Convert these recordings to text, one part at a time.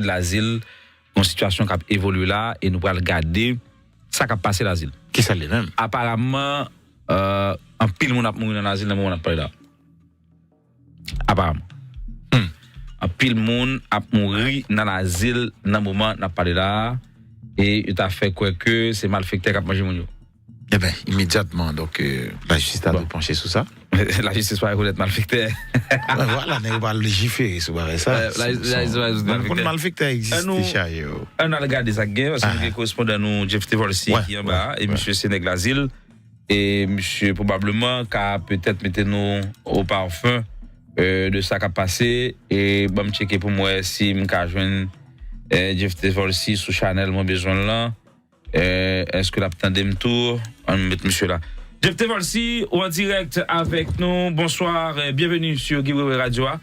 de l'Azil, yon sitiyasyon k ap evolye la a e nou pral gade sa k ap pase l'Azil. Ki sa l ye menm? Aparamman, anpil moun ap mouri nan l'Azil nan moman n ap pale la a. Aparamman. Hum! Anpil moun ap mouri nan l'Azil nan moman n ap pale la a e yo ta fè kwè ke se malfektè k ap manje moun yo. Enben, imedyatman, donk, lajistis ta dwe panche sou sa. Lajistis pa rekonèt malfektè. Vwala, nèg yo pa lejifere sou bagay sa. Lajistis pa rekonèt malfektè. Mwen konn malfektè egziste, chaje yo. Ann al gade sa k gen, paske nou gen korespondan nou Jeff Tevolsy ki anba a, e misye se nèg Lazil, e misye pwobableman ka petèt mete nou o parfum de sa k ap pase, e ban m tcheke pou m wè si m ka jwenn Jeff Tevolsy sou chanèl mwen bezwen l lan. Eh eske lap tandem tou an nou met misye la. Jefte Valcy ou an direct avek nou bonsoir bienvenue sur Guy Wewe radio a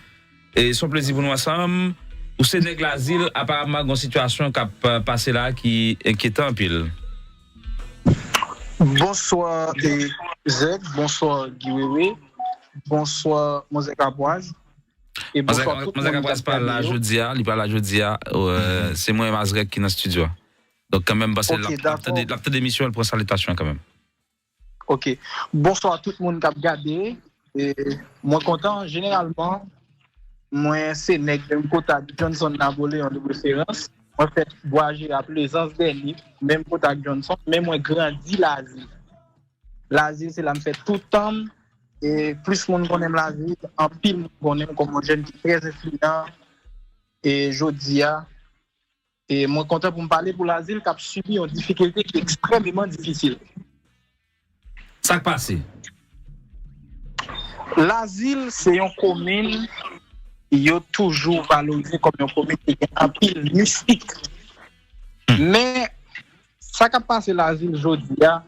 son plezi pou nou ansanm ou se neg lazil aparamman gon sitiyasyon kap pase la ki enkyetan anpil. Bonsoir EZ bonsoir Guy Wewe bonsoir manzè kapwaz e bonsoir tout moun kap gade yo. Manzè kapwaz pa la jodia li pa la jodia se mwen Mazrèk ki nan studio a. Donk kanmenm m'panse lap tande lap tande emisyon an l pran salitasyon an kanmenm. Ok bonswa tout moun kap gade mwen kontan jeneralman mwen se nèg menm kota ak Johnson Napoléon de preferans mwen fèt bwa jera plezans dèni menm kota ak Johnson men mwen grandi lazil lazil se la m fèt tout tan m e plis moun konnen m lazil anpil moun konnen m kòm yon jèn ki trè enfliyan e jodi a Mwen kontan pou m pale pou Lazil k ap sibi yon difikilte ki ekstrèmeman difisil. Sa k pase? Lazil se yon komin yo toujou valorize kòm yon komin ki gen anpil mistik. Men, sa k ap pase Lazil jodi a,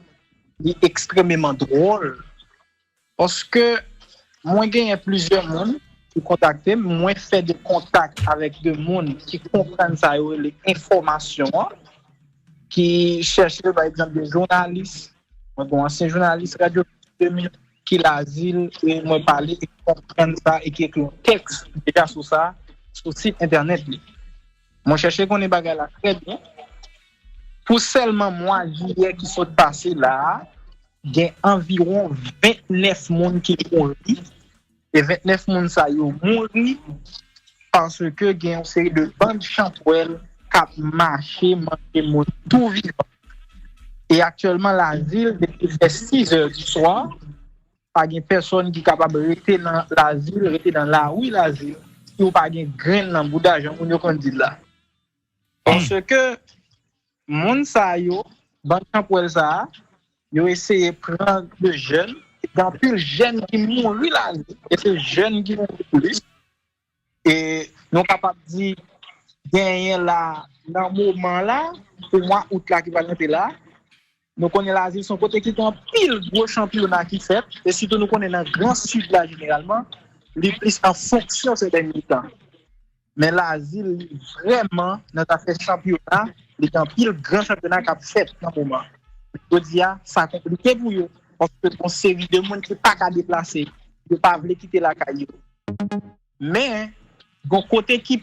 li ekstrèmeman dwòl. Paske mwen genyen plizyè moun ki kontakte m, mwen fè de kontak avèk de moun ki konprann sa yo rele enfòmasyon an, ki chèche pa egzanp de jounalis, mwen gon ansyen jounalis radyo Pistol 2000 ki Lazil e mwen pale e ki konprann sa e ki ekri yon tèks deja sou sa sou sit entènèt li. Mwen chèche konnen bagay la trè byen. Pou sèlman mwa jiyè ki sot pase la a, gen anviwon 29 moun ki mouri. E 29 moun sa yo mouri paske gen yon seri de band chantwèl k ap mache manje moun tou vivan. E aktyèlman Lavil depi lè 6 zè di swa. Pa gen pèsòn ki kapab rete nan lazil, rete nan lari lazil, si ou pa gen grenn nan bouda, jan moun yo konn di l la. Paske moun sa yo, bann chanpwèl sa a, yo eseye pran de jèn, gen anpil jèn ki mouri lazil, e se jèn ki mouri plis, E nou kapab di genyen la nan moman la pou mwa out la ki pral rive la, nou konnen Lazil son kote ki gen anpil gwo chanpyona ki fèt e sitou nou konnen nan gran sid la jeneralman li plis an fonksyon sè dènye tan. Men Lazil li vrèman nan zafè chanpyona li gen anpil gran chanpyona kap fèt nan moman. Jodi a sa konplike pou yo Paske gon seri de moun ki pa ka deplase, yo pa vle kite lakay yo. Men, gon kote ki.